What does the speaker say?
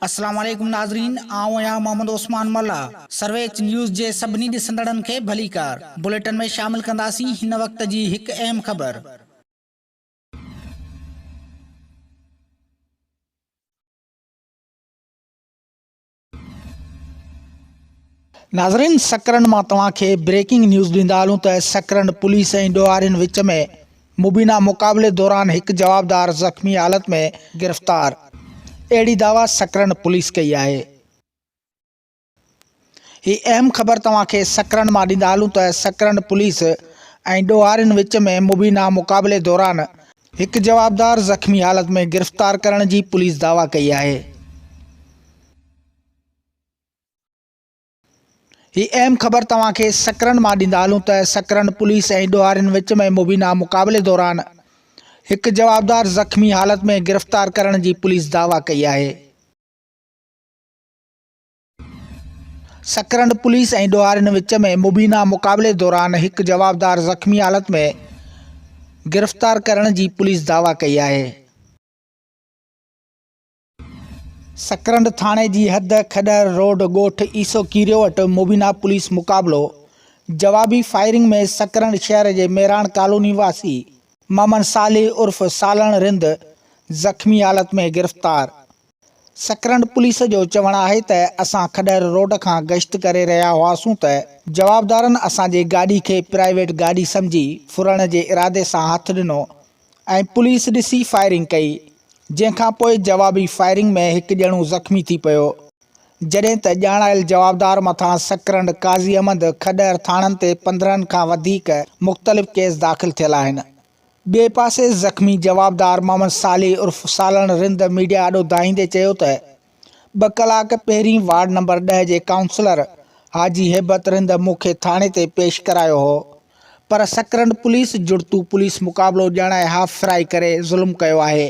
السلام عليڪم ناظرين آئون آهيان محمد عثمان ملاح سرويچ نيوز جي سڀني ڏسندڙن کي ڀليڪار بليٽن ۾ شامل ڪنداسين هن وقت جي هڪ اهم خبر. ناظرين سڪرنڊ مان توهان کي بريڪنگ نيوز ڏيندا هلون ته سڪرنڊ پوليس ۽ ڏوهارين وچ ۾ مبينا مقابلي دوران هڪ جوابدار زخمي حالت ۾ گرفتار اهڙي دعويٰ سڪرنڊ پوليس ڪئي آهي هي اهم خبر توهان کي سڪرنڊ مان ڏيندا هلون ته سڪرنڊ پوليس ۽ ڏوهارين وچ ۾ مبينا مقابلي دوران هڪ جوابدار زخمي حالت ۾ گرفتار ڪرڻ جي پوليس دعويٰ ڪئي آهي. هي اهم خبر توهان کي سڪرنڊ مان ڏيندا هلون ته سڪرنڊ پوليس ۽ ڏوهارين وچ ۾ مبينا مقابلي دوران هڪ جوابدار زخمي حالت ۾ گرفتار ڪرڻ جي پوليس دعويٰ ڪئي آهي. سڪرنڊ پوليس ۽ ڏوهارين وچ ۾ مبينا مقابلي دوران هڪ جوابدار زخمي حالت ۾ گرفتار ڪرڻ جي پوليس دعويٰ ڪئي آهي. سڪرنڊ ٿاڻي جي حد کڏهر روڊ ڳوٺ عيسو ڪيريو وٽ مبينا پوليس مقابلو جوابي فائرنگ ۾ سڪرنڊ شهر جي ميراڻ ڪالوني واسي محمد صالح عرف سالڻ رند زخمي حالت ۾ گرفتار سڪرنڊ پوليس جو چوڻ آهي ته اسان کڏهر روڊ کان گشت ڪري رهيا هئاسون ته جوابدارن اسان جي گاڏي کي پرائيويٽ گاڏي سمجهي ڦرڻ جي ارادي سان هٿ ڏنو ۽ پوليس ڏسي فائرنگ ڪئي جنهن کان پوء جوابي فائرنگ ۾ هڪ ڄڻو زخمي ٿي پيو جڏهن ته ڄاڻايل جوابدار مٿان سڪرنڊ، قاضي احمد، کڏهر ٿاڻن تي پندرهن کان وڌيڪ مختلف ڪيس داخل ٿيل آهن. ٻئي پاسي زخمي جوابدار محمد صالح عرف سالڻ رند ميڊيا آڏو دانهيندي چيو ته ٻه ڪلاڪ پهرين وارڊ نمبر ڏهه جي ڪائونسلر حاجي هيبت رند مون کي ٿاڻي تي پيش ڪرايو هو پر سڪرنڊ پوليس جڙتو پوليس مقابلو ڄاڻائي هاف فرائي ڪري ظلم ڪيو آهي.